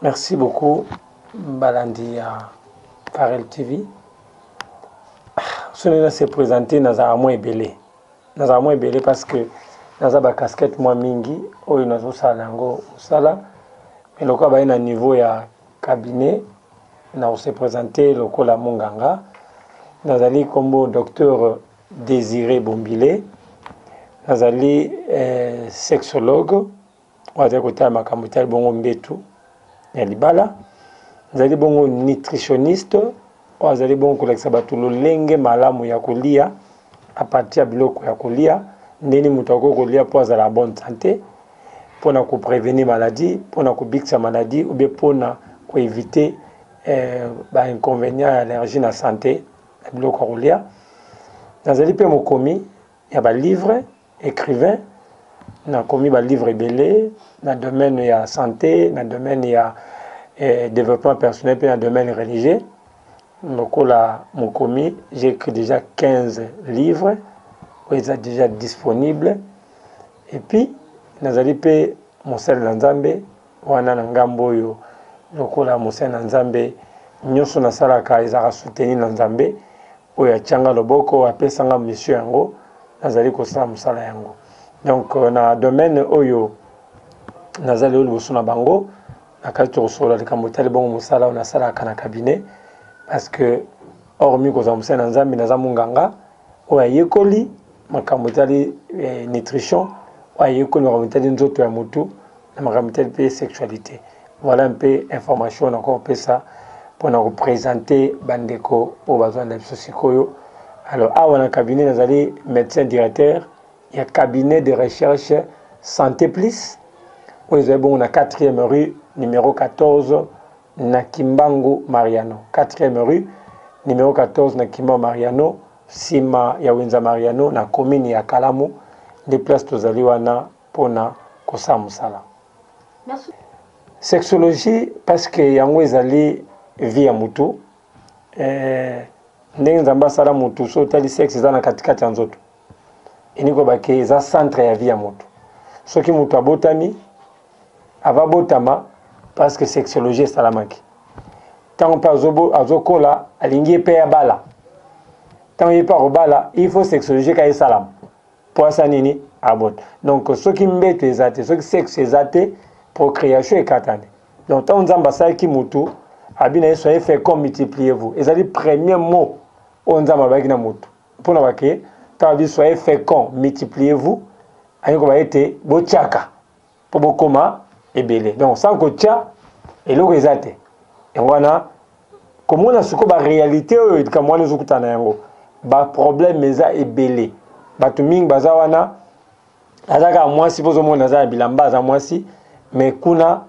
Merci beaucoup balandi ya Carel TV. Soki na se présenter nazala mwa ebele. Nazala mwa ebele parce que naza ba casquette mwa mingi oyo nazosala yango mosala mais lokola baye na niveau ya cabinet na kose présenter lokola monganga nazali nkombo docteur Désiré Bombile nazali eh, sexologue oyo azali kotala makambo etali bongo mbetu ya libala azali bongo nutritionniste oyo azali bongo kolakisa bato lolenge malamu ya kolia apartir ya biloko ya kolia ndeni moto akoki kolia mpo azala bonne sante mpo na koprevenir maladie mpo na kobikisa maladie obe mpo na koevite eh, bainconvénient ya allergie na sante ya biloko ya kolia nazali mpe mokomi ya balivre ecrivain na komi ba livre ebele na domaine ya sante na domaine ya eh, developpement personnel mpe na domaine religieux lokola mokomi j'ai écrit déjà 15 livres oyo eza déjà disponible epuis nazali mpe mosali na nzambe Wana na ngambo oyo lokola mosali na Nzambe, nyoso nasalaka ezalaka soutenu na Nzambe oyo atia nga loboko, apesa nga mission yango, nazali kosala mosala yango. Donc na domaine oyo naza lelo liboso na bango, nakati tokosolola likambo etali bongo mosala oyo nasalaka na cabinet, parce que hormis kozala mosali na Nzambe, naza munganga, oyo ayekoli makambo etali eh, nutrition, oyo ayekoli makambo etali nzoto ya motu na makambo etali mpe sexualité. Voilà un peu information nakoki kopesa mpo na kopresente bandeko oyo bazwanda biso sikoyo. Alors awa na cabinet nazali médecin directeur ya cabinet de recherche Santé Plus oyo ezali bongo na 4e rue numéro 14 na Kimbangu Mariano, quatrième rue, numero 14 na Kimbangu Mariano, sima ya Wenza Mariano na commune ya Kalamu, nde place tozali wana pona kosala mosala. Sexologie parce que yango ezali vie ya mutu, eh, ndenge Nzambe asala mutu, so otali sexe eza na katikati ya nzoto. eniko bake eza centre ya vie ya moto soki moto abotami ava botama parce que sexologie esalamaki ntango mpe azokola alingi ye mpe abala ntango ye mpe akobala il faut sexologie ka esalama mpo asa nini abota donc soki mbeto eza te soki sexe eza te procréation ekatani donc ntango nzambe asalaki motu abi na ye soye fecond multipliez vous ezali premier mot oyo nzambe alobaki na motu Pona ba ke tala bi soyez fecond multipliez vous alingi koloba ete botiaka mpo bokoma ebele donc sans kotia eloko eza te yango wana komona siko ba réalité oyo likambo wana ezokutana yango ba problème eza ebele bato mingi baza wana aza kaka mwasi mpo ozomona aza na bilamba aza mwasi me kuna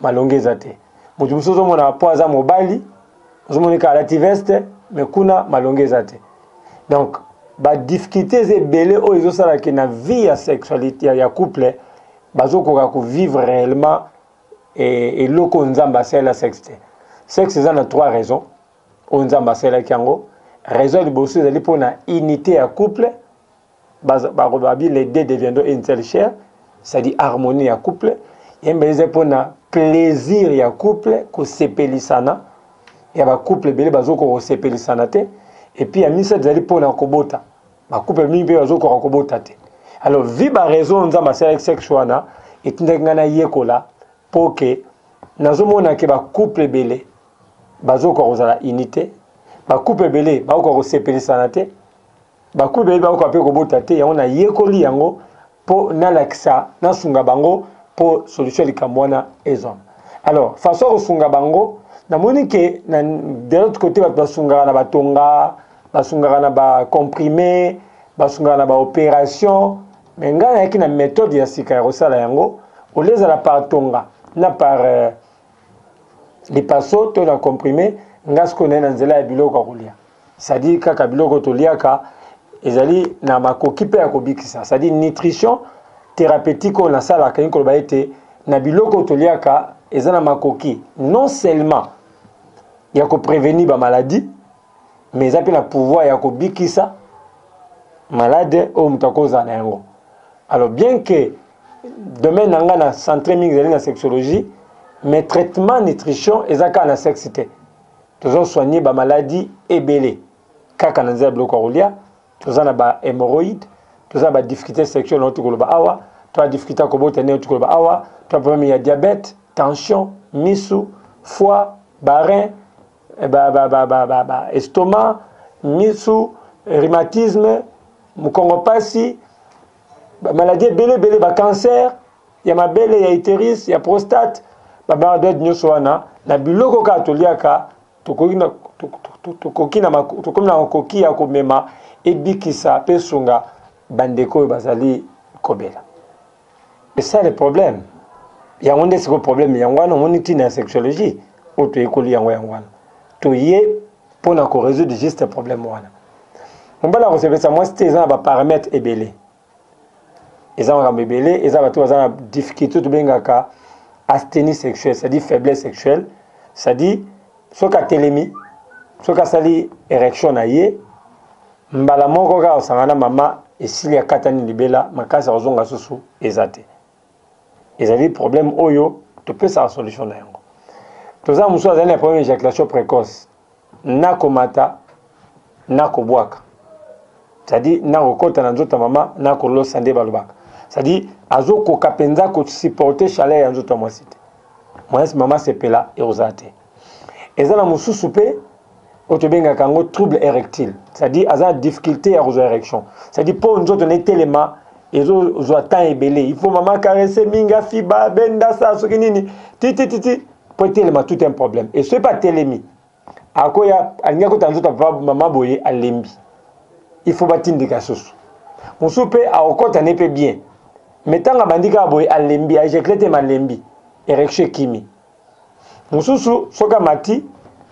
malongi eza te moto mosusu ozomona mpo aza mobali ozomoni kaka alati veste me kuna malongi eza te donc badifficulté eza ebele oyo ezosala ke na vie ya sexualité ya, ya couple bazokoka kovivre réellement eh, eloko oyo nzambe asalela sexe te sexe eza na trois raisons oyo nzambe asalelaki yango raison ya liboso ezali mpo na unité ya couple babi les deux deviendront une seule chair c'est-à-dire harmonie ya couple yemba eza mpona plaisir ya couple kosepelisana ya bacouple ebele bazokoka kosepelisana te epuis ya misato ezali mpona kobota bacouple mingi mpe bazokoka kobota te alors vi baraison nzambe asalaki sexe wana etindaki ngai nayekola mpo ke nazomona ke bacouple ebele bazokoka kozala unité bacouple ebele bakokoka kosepelisana te Bakuli bayebi bakoka mpe kobota te, yango nayekoli yango mpo nalakisa, nasunga bango mpo solution ya likambo wana ezwama. Alors, façon ya kosunga bango, namoni que na de l'autre cote bato basungaka na batonga, basungaka na ba comprimes, basungaka na ba operations, mais ngai nayaki na methode ya sika ya kosala yango, au lieu ezala par tonga na par euh, lipaso to na comprime nga sikoyo naye na nzela ya biloko ya kolia sadi kaka biloko toliaka ezali na makoki mpe ya kobikisa sadi nutrition thérapeutique oyo nasalaka elingi koloba ete na biloko toliaka eza na makoki non seulement ya koprevenir bamaladi mais eza mpe na pouvoir ya kobikisa malade oyo moto akozala na yango alors bien que domaine na ngai na centre mingi ezali na sexologie mais traitement nutrition eza kaka na sexe te tozo soigner ba maladies ebele kaka na nzela biloko ya kolia toza na ba hémorroïde toza na ba difficulté sexuelle nauti koloba awa to ba difficulté ya kobota nde nauti koloba awa to ba problème ya diabète tension misu foie barin ba, ba, ba, ba, ba, ba estoma misu rhumatisme mukongo pasi ba maladie ebele ebele ba cancer ya mabele ya uterus ya prostate ba maladies nyonso wana na biloko kaka toliaka tokoki na tokoki na tokomi na makoki ya komema ebikisa mpe esunga bandeko oyo bazali kobela C'est ça le problème. Yango nde siko problème yango wana omoni ntina ya sexologie oyo toyekoli yango yango wana toye mpo na ko résoudre juste problème wana mobali akosepelisa mwasi te eza na baparametre ebele eza makambo ebele eza bato baza na difficulté tobengaka asthénie sexuelle c'est-à-dire faiblesse sexuelle c'est-à-dire Soki atelemi, soki asali erection na ye, mbala moko kaka osanga na mama esili akatani libela, makasi ya kozonga susu eza te. Ezali problème oyo topesaka solution na yango. Toza mosusu azali na problème ya ejaculation précoce, na komata Nako bwaka c'est à dire nako kota na nzoto ya mama nako losa nde balobaka c'est à dire azo koka penza ko supporter chaleur ya nzoto ya mwasi te mwasi mama sepela ekozala te eza na mosusu pe oyo tobengaka yango trouble érectile c'est à dire aza na difficulté ya kozwa érection c'est à dire mpo nzoto na etelema ezozwa temps ebele il faut mama caresse mingi afiba benda sa soki nini titititi mpo etelema tout un problème et soki mpe atelemi akoya alingi akota nzoto ya papa mama boye alembi il faut batindika susu mosusu mpe akokota ne mpe bien me ntango abandi kaka boye alembi aejecule te malembi erection ekimi mosusu soki amati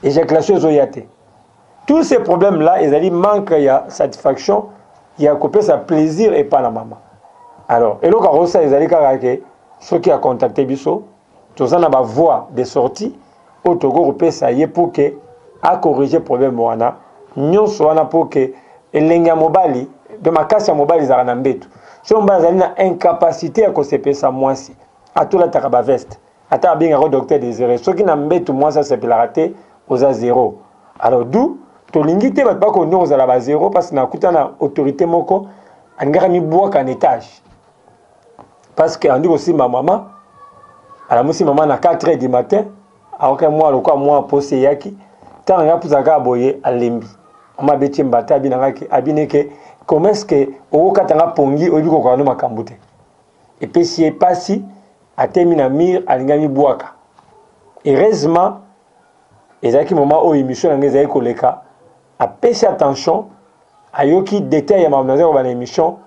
ejaculation ezoya te tous ces problèmes là ezali manque ya satisfaction ya kopesa plaisir epai na mama alors eloko akosala ezali kaka ke soki acontacte biso Toza na ba voies de sortie oyo tokoki kopesa ye pour que a corriger problème wana nyonso wana pour que elengi ya mobali de makasi ya mobali ezalaka na mbetu. Soki mobali azali na incapacite ya kosepelisa mwasi, atolataka ba veste ata abengaka yo Docteur Desire, soki na mbetu mwasi asepelaka te, oza zero. Alors d'où tolingi te bato bakontinue kozala ba zero parce que nakutana na autorite moko alingaki amibwaka na etage parce que andi kosimba mama alamusi mama na 4 heures du matin aoke mwa lokola mwa posi eyaki ntango ngai apusa kaka boye alembi mama abeti mbata abina ngaki abini ke comment est ce que okokata nga pongi oyebi kokoka no makambo te epesi ye pasi atemi na mire alingi amibwaka heureusement ezalaki moma oyo émission na ngai ezalaki koleka apesi attention ayoki detail ya makambo nazali koba na émission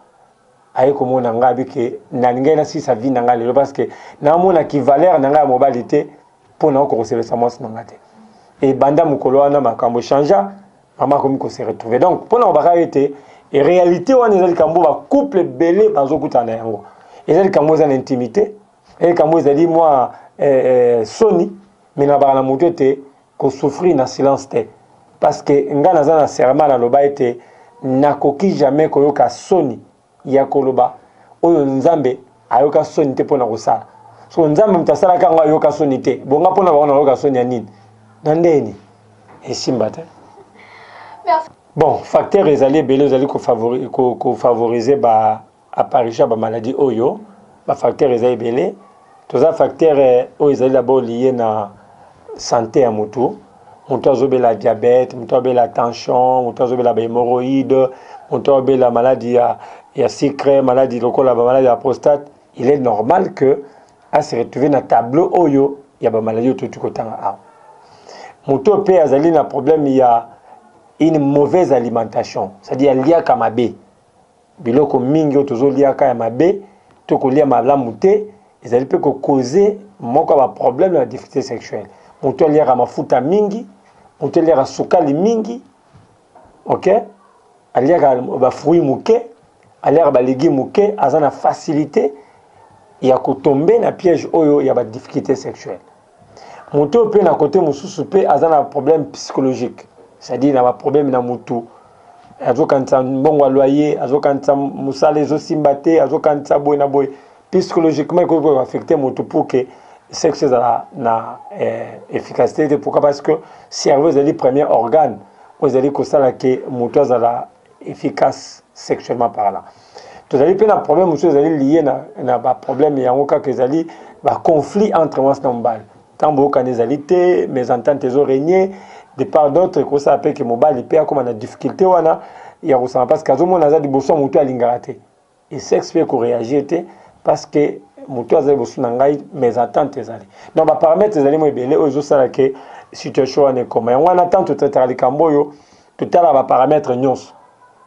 aye komona nga abi ke nalingaki nasilisa vie na nga lelo parce que namona ki valeur na nga ya mobali te mpo naoka kosepelisa mwasi na nga te ebanda mokolo wana makambo echangea mama akomi kose retrouve donc mpo na kobaka ye te réalité wana eza likambo bacouple ebele bazokutana na yango eza likambo eza na intimité eza likambo ezali mwa eh, eh, soni me nabaka na moto ete Ko souffrir na silence te parce que nga naza na serment na loba ete nakoki jamais koyoka soni ya koloba oyo Nzambe ayoka soni te pona kosala. Soko Nzambe moto asalaka yango ayoka soni te, bo nga pona bango nakoyoka soni ya nini? Na ndenge nini? Esimba te. Bon, facteur ezali ebele ozali ko favoriser ba Apparition ya ba maladies oyo, ba facteurs eza ebele. Toza facteur oyo ezali d'abord lie na sante ya mutu. Mutu azo bela diabete, mutu azo bela tension, mutu azo bela ba hemorroïde, mutu azo bela maladi ya, ya sucre, maladi lokola ba maladi ya prostate. Il est normal que a se retrouver na tableau oyo ya ba maladies oyo touti kotanga awa. Mutu oyo pe azali na problème ya une mauvaise alimentation, c'est-à-dire aliaka mabe. Biloko mingi oyo tozo liaka ya mabe to kolia malamu te ezali pe ko cause moko ya ba problème na ba difficultes sexuelles. Mutu aliaka mafuta mingi, mutu aliaka sukali mingi, ok, aliaka ba fruits muke, aliaka ba legumes muke, aza na facilite ya ko tomber na piège oyo ya ba difficultes sexuelles. Moto oyo mpe na kote mosusu mpe aza na problème psychologique, c'est-à-dire na baproblème na motu, azokanisa mbongo ya loyer, azokanisa mosala ezosimba te, azokanisa boye na boye. Psychologiquement ekoki koaffecte motu pour que sexe ezala na eh, efficacité te. Pourquoi? Parce que cerveau ezali premier organe oyo ezali kosala ke motu azala efficace sexuellement parlant tozali mpe na problème mosusu ezali lie na, na baproblème yango kaka ezali baconflit entre mwasi na mobali ntango boyokani ezali te mésentente ezo règne de part d'autre ekosala mpe ke mobali mpe akóma na difficulté wana ya kosanga parce que azomona aza liboso ya motu alingaka te Et sexe pe ko reagir te parce que mutu aza liboso na ngai mes attentes ezali donc ba paramètres ezali mo ebele oyo ezo sala que situation wana ekoma yango wana tant totataka likambo oyo totalaka ba paramètres nyonso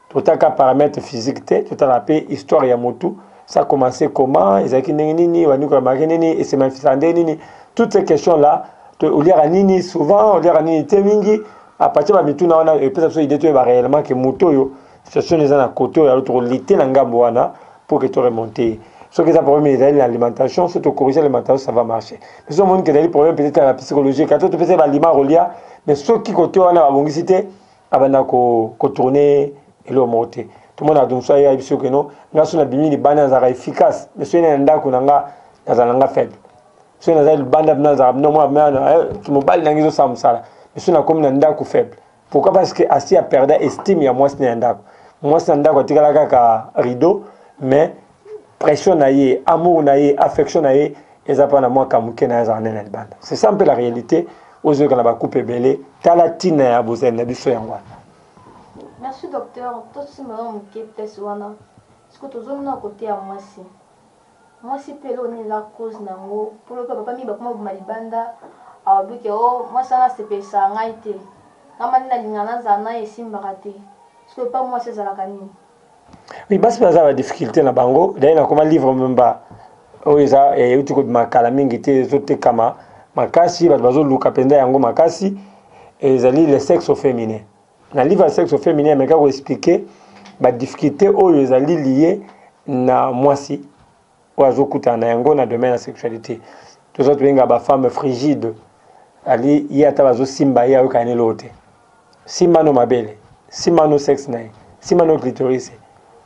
totaka paramètre physique te totalaka mpe histoire ya motu ça commencé comment ezalaki ndenge nini bandi koyamaki nini esemanifisaka ndenge nini toutes ces questions là oliaka nini souvent oliaka nini te mingi apartir bamituna wana epesa biso idée toyeba réellement ke moto oyo Situation eza na kote oyo toko lite na ngambo wana pour que to remonte ye. Soki eza problème ezali na alimentation, soki to corriger alimentation ça va marcher. Mais soki omoni que ezali problème peut-être na psychologique, ata topesa ye ba aliments akolia, mais soki kote wana babongisi te, abanda ko, ko tourner eloko moko te. Tomona donc soki ayebi soki que non, nga soki nabimi libanda nazalaka efficace, mais soki na ndako na nga nazala na nga faible. Soki nazali libanda mpenza nazalaka mpenza mwana eh, kimobali na ngai ezosala mosala, mais soki nakomi na ndako faible Pourquoi parce que asi a perda estime ya mwasi na ya ndako. Mwasi na ndako atikala kaka rideau mais pression na ye, amour na ye, affection na ye eza pa na mwa kamuke na ye azala na na libanda. C'est ça mpe la réalité ozo yoka na ba coupe ebele tala tina ya bozali na biso yango wana. Merci docteur, to simba mwa muke place wana, sikoyo tozo mona cote ya mwasi. Mwasi pe eloko nini eza cause na ngo po lokola papa mingi bakoma kobima libanda alobi ke oh mwasi wana asepelisaka ngai te ngai mande nalingaka nazala naye esimbaka te sikoyo epa mwasi ezalaka nini? Oui basi baza ba difficulte na bango d'ailleurs na koma livre mba oyo eza eh, euti kobima kala mingi te ezotekama makasi bato bazoluka mpenza yango makasi ezali le sexe feminin Na livre ya Sexe au feminin ameka ko expliquer ba difficultes oyo ezali liye na mwasi oyo azokutana na yango na domaine ya sexualite. Toza tobenga ba femmes frigides. Ali ye ata bazosimba ye ayokana n'eloko te. Simba no mabele, simba no sexe na ye, simba no clitoris,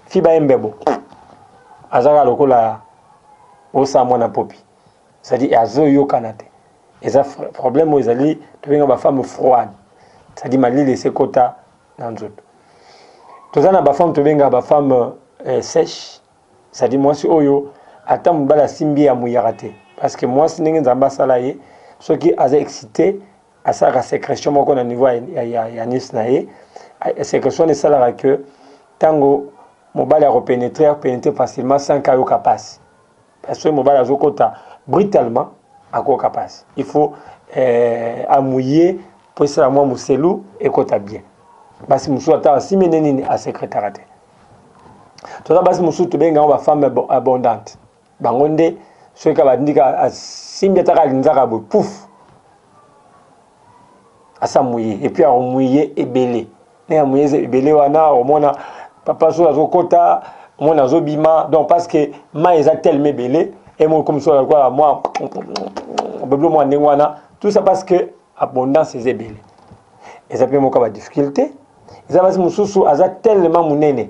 fiba ye mbebo. Azaka lokola osa mwana popi. c'est à dire azo yokana te eza problème oyo ezali tobenga ba femme froide c'est à dire malili ese kota na nzoto toza na ba femme tobenga ba femme eh, sèche c'est à dire mwasi oyo ata mobali asimbi ya muyaka te parce que mwasi ndenge nzambe asala ye soki aza excité asalaka sécrétion moko na niveau ya, ya, ya nice na ye sécrétion wana esalaka que ntango mobali akopénétre akopénétre facilement sans kayoka mpasi Parce que mobali azokota brutalement akoyoka pasi. Il faut eh, amouiller mpo esala mwa moselu ekota bien. Basi mosusu ata asimene nini asekretaka te. Toza basi mosusu tobenga yango bafemme abondante. Bango nde soki kaka batindi kaka asimbi ata kaka linzaka boye pufu asa muye et puis ako muye ebele ne ya muye ebele wana omona papa so azo kota omona azo bima donc parce que mai eza tellement ebele et mo comme so alikuwa moi beblo moi ndenge wana tout ça parce que abondance eza ebele eza pe moka ba difficulté eza basi mosusu aza tellement munene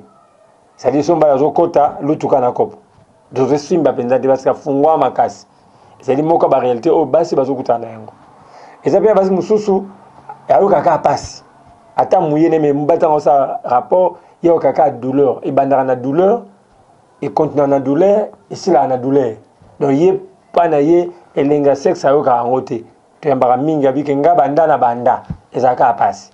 Sadi Somba ya zokota lutuka na kopo dozo simba penza te parce que fungwa makasi ezali moko ba réalité oyo basi bazo kutana na yango eza pe basi mususu ayoka ka pasi ata muye ne me mbata ngo sa rapport yo kaka douleur ebandaka na douleur et continue na douleur et sila na douleur donc ye pa na ye elenga sexe ayoka yango te toyambaka mingi abike nga banda na banda ezalaka pasi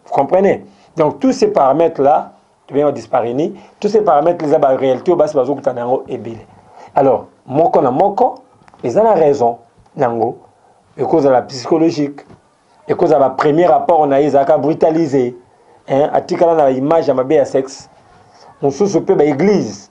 vous comprenez donc tous ces paramètres là tobenga disparini tous ces paramètres eza ba réalité oyo basi bazokutana na yango ebele alors moko na moko eza na raison na yango ekozala psychologique ekozala premier rapport na ye ezalaka brutalisé hein, atikala na image ya mabe ya sexe mosusu mpe baeglise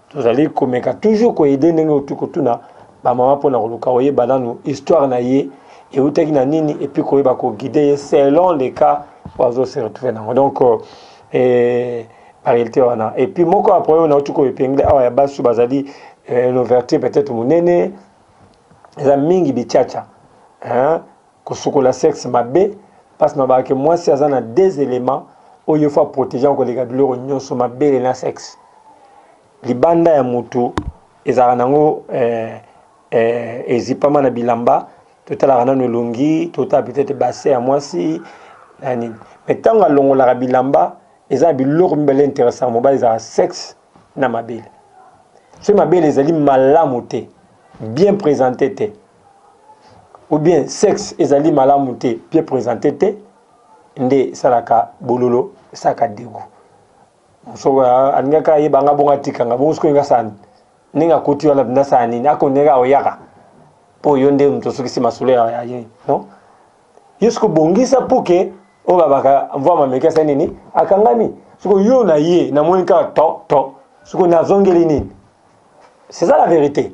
Tozali komeka toujours ko aider ndenge oyo tokotuna ba mama pona koluka koyeba nanu histoire na ye ewutaki na nini et puis koyeba ko guider ye selon le cas oyo azo se retrouver nango donc eh, ba realite wana et puis moko ya problème nauti ko epingler awa ya basi bazali eh, l'ouverture peut-être munene eza mingi bichacha hein Kosukola sexe mabe pasi nalobaka ke mwasi aza na deux elements oyo il faut a proteger yango koleka biloko nyoso, mabele na sexe. Libanda ya mutu ezalaka nango eh, eh, ezipama na bilamba, totalaka nanu elongi, totala peut-etre bassin ya mwasi na nini. Mais tango alongolaka bilamba, eza na biloko mibale interessaka mobali ezalaka sexe na mabele. Soki mabele ezali malamu te, bien presente te, ou bien sexe ezali malamu te bien présente te nde esalaka bololo esalaka degu mosoko alingaka ayeba nga bongo atika nga bongo sikoyo ngasani ndenge akoti wana mpenza asala nini akondeka aoyaka mpo yo nde moto osukisi masolo ya ye non yo siko bongisa mpo ke oyo babaka mvua mameki asali nini akangami siko yo na ye namoni kaka to to siko nazongeli nini c'est ça la vérité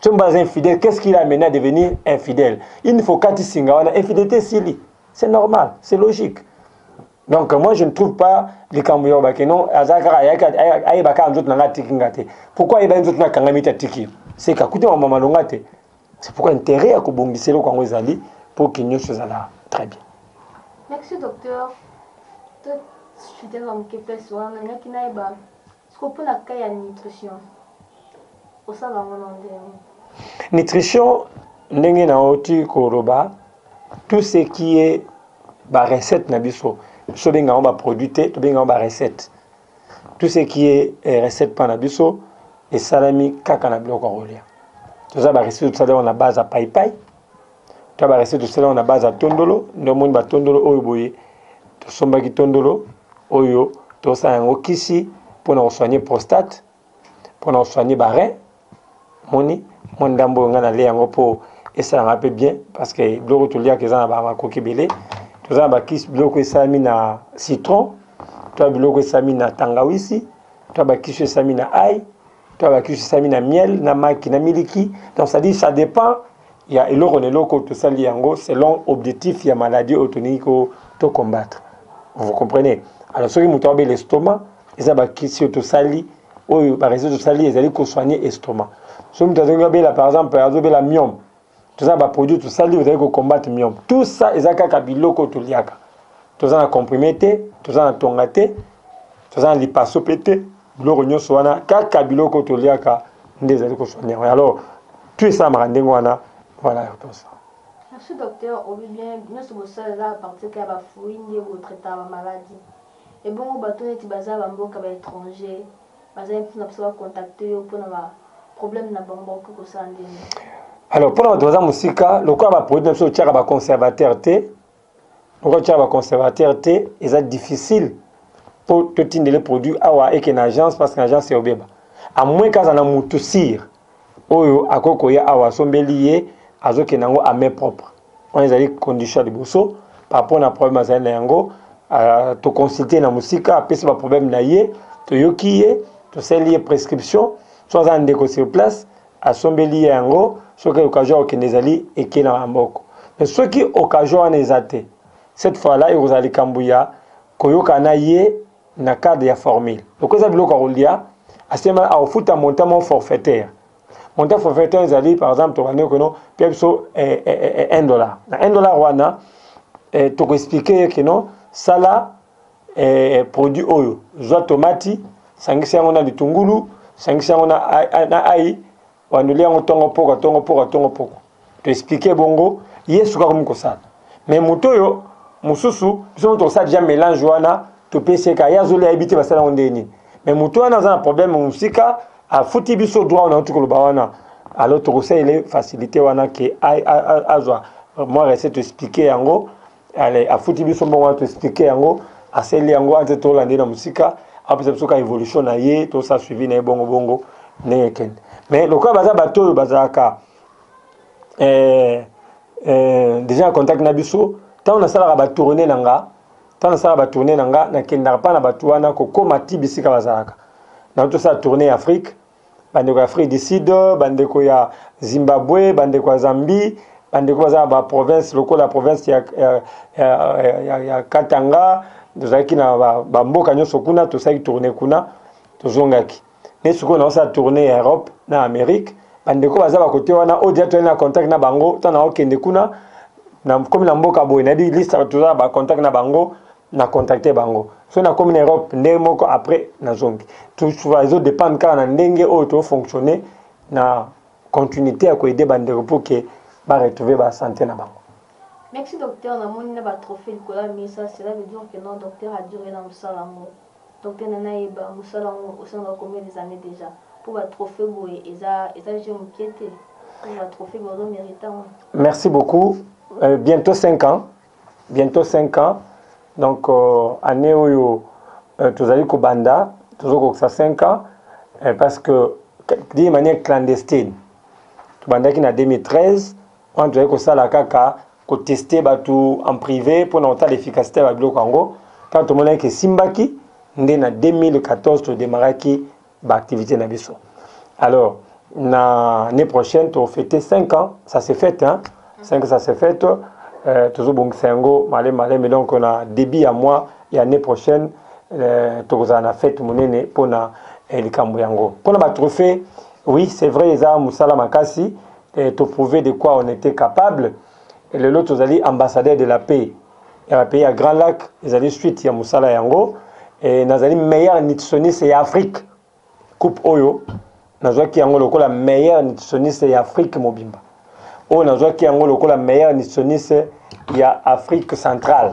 soki baza infidèle qu'est ce qu'il a mené à devenir infidèle une fois okati singa wana infidélité esili c'est normal c'est logique donc moi je ne trouve pas likambo ya obake non aza kaka ayeba kaka nzoto na ngai atiki nga te pourquoi ayebaki nzoto na akangami te atiki seka kuti mama malonga te c'est pourquoi intérêt ya kobongisa eloko yango ezali mpo ke nyonso ezala très bien merci docteur to fidèle ya moke place wana nalingaki nayeba Sikoyo mpo na cas ya nutrition osalaka yango na ndenge nini? Nutrition ndenge nauti koloba tout ce qui est ba recette na biso biso benga yango ba produit te tobenga yango ba recette tout ce qui est eh, recette mpa na biso esalami kaka na biloko ya kolia toza ba recette tosalaka na base ya paipai ta ba recette tosala yango na base ya tondolo nde omoni ba tondolo oyo boye tosombaki tondolo oyo tosala yango kisi mpona kosoigne prostate mpona kosoigne barin moni mwa ndambo oyo ngai nale yango mpo esalanga mpe bien parce que biloko toliaka eza na bamakoki ebele toza na bakisi biloko esalami na citron to biloko esalami na tangawisi to bakisi oyo esalami na ai to abakisusami na miel na maki na miliki donc ça dit ça dépend ya eloko na eloko tosali yango selon objectif ya maladie oyo tolingi ko to combattre vous comprenez alors soki moto abela estomac eza bakisi oyo tosali oyo baresultat tosali ezali kosoigne estomac soki moto azali abela par exemple azobela miome toza na ba produit tosali ozali ko combattre myope tout ça eza kaka biloko oyo toliaka toza na comprime te toza na tonga te toza na lipaso mpe te biloko nyonso wana kaka biloko oyo toliaka nde ezali kosoigne yango alors tout esalamaka ndenge wana voilà réponse Merci docteur, obi bien nyonso bosala eza à partir ya ba fruits nde bo traitaka ba maladies. Ebongo bato neti baza ba mboka ba etrangers Bazali mpe na posa ba contacter yo mpo na ba problèmes na bango, bakoki kosala ndenge nini? Alors mpo na bato baza mosika, lokola ba produits na biso totiaka ba conservateurs te, lokola totiaka ba conservateurs te, eza difficile mpo totindele produit awa eke na agence, parce que na agence eobeba, à moins kaka azala na mutu sur. Oyo akoki koya awa asombeli ye azokende yango a main propre wana ezali condition ya liboso par rapport na problème azali na yango uh, to consulter na mosika apesi ba problème na ye toyoki ye tosali ye prescription so aza na ndeko sur place asombeli ye yango soki occasion okende ezali eke na maboko mais soki occasion wana eza te cette fois là ekozala likambo ya koyokana ye na cadre ya formule lokola eza biloko ya kolia asema akofuta montant moko forfaitaire montant forfaitaire ezali par exemple tobandi okeno pia biso 1 eh, eh, eh, dollar na 1 dollar wana tokoexplike ye keno sala produit oyo zwa tomati sangisa yango na litungulu sangisa yango na ai Wandeli yango tongo poko tongo poko tongo poko to expliquer bongo Yesu kaka komi kosala mais moto oyo mosusu biso moto kosala déjà mélange wana topesi ye kaka ye azoli ayebi te basala yango ndenge nini mais moto wana aza na problème mosika afuti biso droit wana auti koloba wana alors tokosalela facilité wana ke azwa mwa recette expliquer yango Allez, afuti biso mbongo wana to expliquer yango, aseli yango ante to lande na musika, apesa biso ka evolution na ye, to sa suivi na ye bongo bongo ndenge kende. Mais lokola baza bato oyo bazalaka eh, eh, déjà en contact na biso, ntango nasalaka ba tourner na nga, ntango nasalaka ba tourner na nga, nakendaka pa na bato wana kokoma ti bisika bazalaka. Na tosala tourner Afrique, bandeko ya Afrique du Sud, bandeko ya Zimbabwe, bandeko ya Zambie, bandeko baza na ba province lokola province ya, ya, ya, ya, ya Katanga, tozalaki na ba, ba mboka nyonso kuna, tosalaki tourne kuna, tozongaki ne sikoyo naosala tourne ya Europe na Amerique. Bandeko baza bakote wana oyo deja toyali na contact na bango, ntango naokende kuna nakomi na mboka boye nayebi liste toza na ba contact na bango na contacte bango so nakomi na europe ndenge moko après nazongi tousuva ezo dépendre kaka na ndenge oyo tofonctionne na continuité ya koede bandeko pour ke baretrouve basante na bango Merci docteur, namoni na ba trophées likolo ya mesa, cela veut dire que non docteur a dure na musala yango. Docteur Nana Yeba, musala yango osalaka combien des années déjà? Pour ba trophées boye eza eza jeu mukie te. Pour ba trophées boye ozo merite yango. Merci beaucoup. Euh, bientôt 5 ans. bientot 5 ans donc euh, année oyo euh, tozali kobanda tozokokisa 5 ans euh, parce que d'une manière clandestine tobandaki na 2013 wana tozali kosala kaka koteste bato en privé mpona kotala efficacité ya babiloko yango ntango tomonaki esimbaki nde na 2014 todemaraki ba activité na biso alors na année prochaine to fêter 5 ans ça se fête hein 5 ça se fête euh, tozobongisa yango male male mais donc na début ya mois ya année prochaine euh, tokozala na fête monene mpo na eh, likambo yango mpo na batrophée oui c'est vrai eza mosala makasi eh, toprouve de quoi on était capable lelo tozali ambassadeur de la paix ya ba pays ya Grand Lac ezali suite ya mosala yango et nazali meilleur nutritionniste ya Afrique coupe oyo nazwaki yango lokola meilleur nutritionniste ya Afrique mobimba oyo nazwaki yango lokola meilleur nutritionniste ya Afrique centrale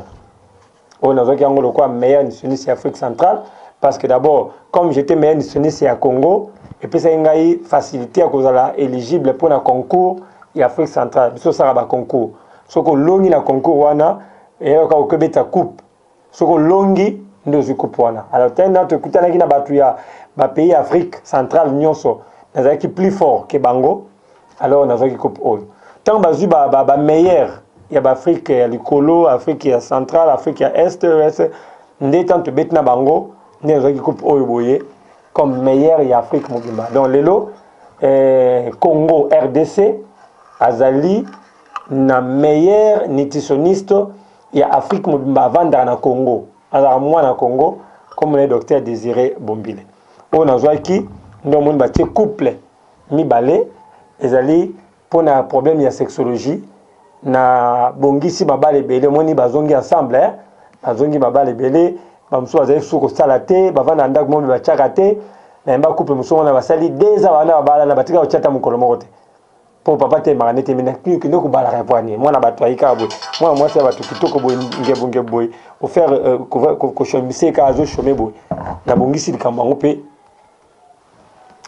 oyo nazwaki yango lokola meilleur nutritionniste ya Afrique centrale parce que d'abord comme j'étais meilleur nutritionniste ya Congo epesaki ngai facilité ya kozala éligible mpo na concours ya Afrique centrale biso osalaka ba concours Soki olongi na concours wana eyo ka okebeta coupe soki olongi nde ozwi coupe wana alors tena natu ekutanaki na batu ya ba pays ya Afrique centrale nyonso nazalaki plus fort ke bango alors nazwaki coupe oyo ntango bazwi ba, ba, ba meilleur ya ba Afrique ya likolo Afrique ya centrale Afrique ya est est nde ntango tobeti na bango nde nazwaki coupe oyo boye comme meilleur ya Afrique mobimba donc lelo eh, Congo RDC azali na meilleur nutritionniste ya Afrique mobimba avandaka na Congo azalaka mwana Congo kombo na ye docteur Desire Bombile oyo nazwaki nde omoni batie couple mibale ezali mpo na problème ya sexologie na bongisi mabala ebele omoni bazongi ensemble eh? bazongi mabala ebele bamosusu bazali susu kosala te bavanda na ndako momi batyaka te nayemba couple mosusu wana basali deux ans wana babalana batika kotya ata mokolo moko te po papa telemaka nde tembe na kino kende kobala revoine mwana bato ayi kaka boye mwana mwasi ya bato kitoko boye ngebu ngebu boye kofaire euh, koshombisie kaka azo shome boye nabongisi likambo yango mpe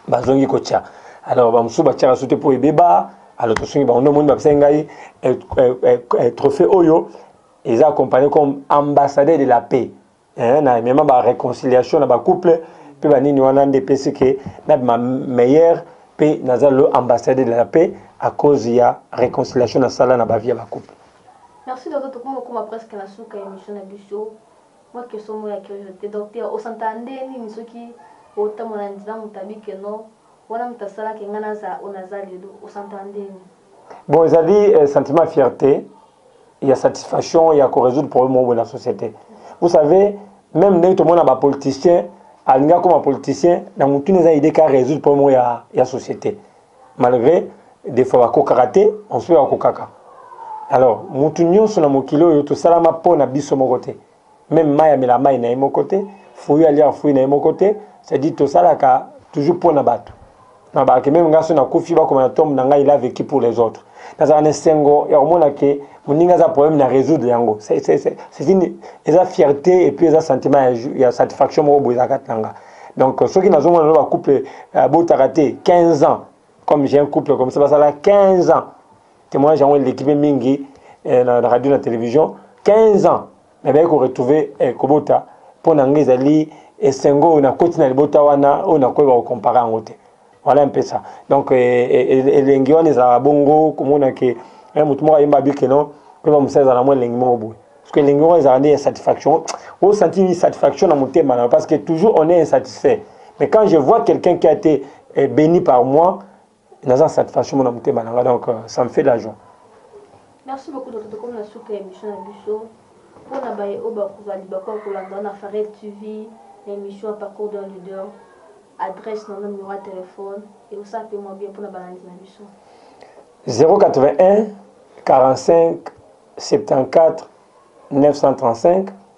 bazongi kotya alors bamosusu batyaka so te mpo ebeba alors tosungi bango nde omoni bapesaki ngai euh, euh, trophée oyo eza accompagné comme ambassadeur de la paix eh, na mema ba reconciliation na ba couple pe ba nini wana nde pesi ke na ma meilleur pe naza le ambassadeur de la paix à cause ya reconciliation na sala na ba vie ba couple merci docteur tokoma koma presque na suka émission na biso moi question moi ya curiosité docteur osantana nde nini soki otambola na nzela moto abi ke non wana moto asalaki ngai naza oyo naza lelo osantana nde nini bon ezali eh, sentiment fierté ya satisfaction ya ko résoudre problème moko na société vous savez même ndenge tomona ba politiciens alingi akoma politicien na motuna eza idée ka résoudre problème moko ya, ya société malgré des fois bakokaka te ensuite bakokaka alors mutu nyonso na mokili oyo tosalama mpo na biso moko te meme mai amela mai na ye moko te fruit alia fruit na ye moko te c'est-à-dire tosalaka toujours mpo na bato na bake meme ngai so nakufi bakoma na tombe na ngai il a vécu pour les autres nazalaka na esengo ya komona ke moninga aza problème na résoudre yango c'est une eza fierté et puis eza sentiment ya, ya satisfaction moko boye eza kati na nga donc soki nazomona no bacouple euh, botaka te 15 ans comme j'ai un couple comme ça basala 15 ans Temoignage yango eleki pe mingi eh, na radio na television 15 ans mais baye ko retrouver eh, kobota mpo na ngai ezali esengo oyo nakoti na libota wana oyo nakoyeba kokompare yango te voilà un peu ça donc eh, eh, eh, elengi wana ezalaka bongo komona ke eh, motu moko ayemba abike non koyeba mosala ezalaka mwa elengi moko boye parce que elengi wana ezalaka nde insatisfaction osanti insatisfaction na motema na parce que toujours on est insatisfait mais quand je vois quelqu'un qui a été eh, béni par moi naza na satisfaction mona motema na nga donc euh, ça me fait de la joie merci beaucoup docteur tokomi na suka ya émission na biso mpo na baye oyo bakozala libaku ya kolanda na farel tv na émission ya parcours d'un leader adresse na numéro ya telefone ekosala mpe mwa bien mpo na balandi na biso 081 45 74 935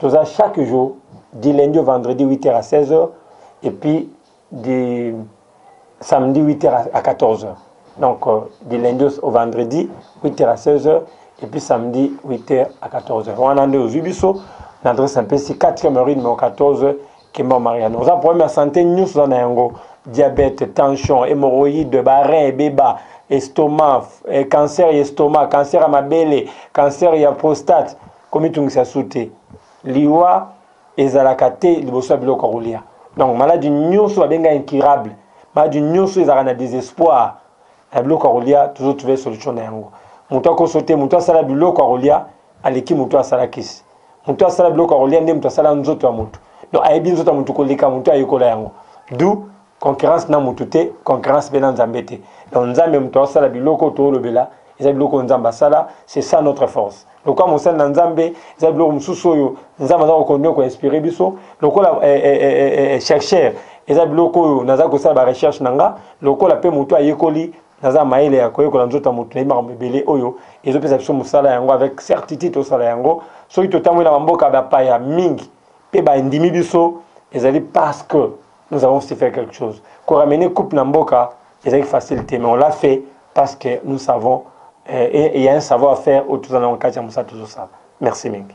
Toza chaque jour du lundi au vendredi 8h à 16h et puis du samedi 8h à 14h. Donc euh, du lundi au vendredi 8h à 16h et puis samedi 8h à 14h. On a au Zubiso, l'adresse un peu si 4e rue numéro 14 Kimba Mariano. Oza problème ya santé nous oza na yango diabète, tension, hémorroïde, barin ebeba, estomac, eh, cancer ya estomac, cancer ya mabele, cancer ya prostate. Komitungisa su te. Liwa ezalaka te liboso ya biloko ya kolia. Donc maladi nyonso babenga incurable, maladi nyonso ezalaka na desespoir na biloko ya kolia, tozo trouver solution na yango. Moto akoso te, moto asala biloko ya kolia aleki moto asala kisi. Moto asala biloko ya kolia nde moto asala nzoto ya moto. Donc ayebi nzoto ya moto koleka moto ayekola yango. D'où concurrence na mutu te concurrence mpe na nzambe te donc nzambe moto asala biloko toolobela eza biloko oyo nzambe asala c'est ça notre force lokola mosali na nzambe eza biloko mosusu oyo nzambe aza kokontinue koinspire biso lokola eh, eh, eh, eh, eh, eh chercheur eza biloko oyo naza kosala barecherche na nga lokola mpe motu ayekoli naza mayele ya koyekola nzoto ya moto nayebi makambo ebele oyo ezopesa biso mosala yango avec certitude tosala yango soki totamboli na bamboka bapaya mingi mpe bandimi biso ezali parce que nous avons aussi fait quelque chose ko ramener coupe na mboka ezalaki facile te mais on l'a fait parce que nous savons euh, il y a un savoir faire oyo toza nango kati ya mosala tozosala merci mingi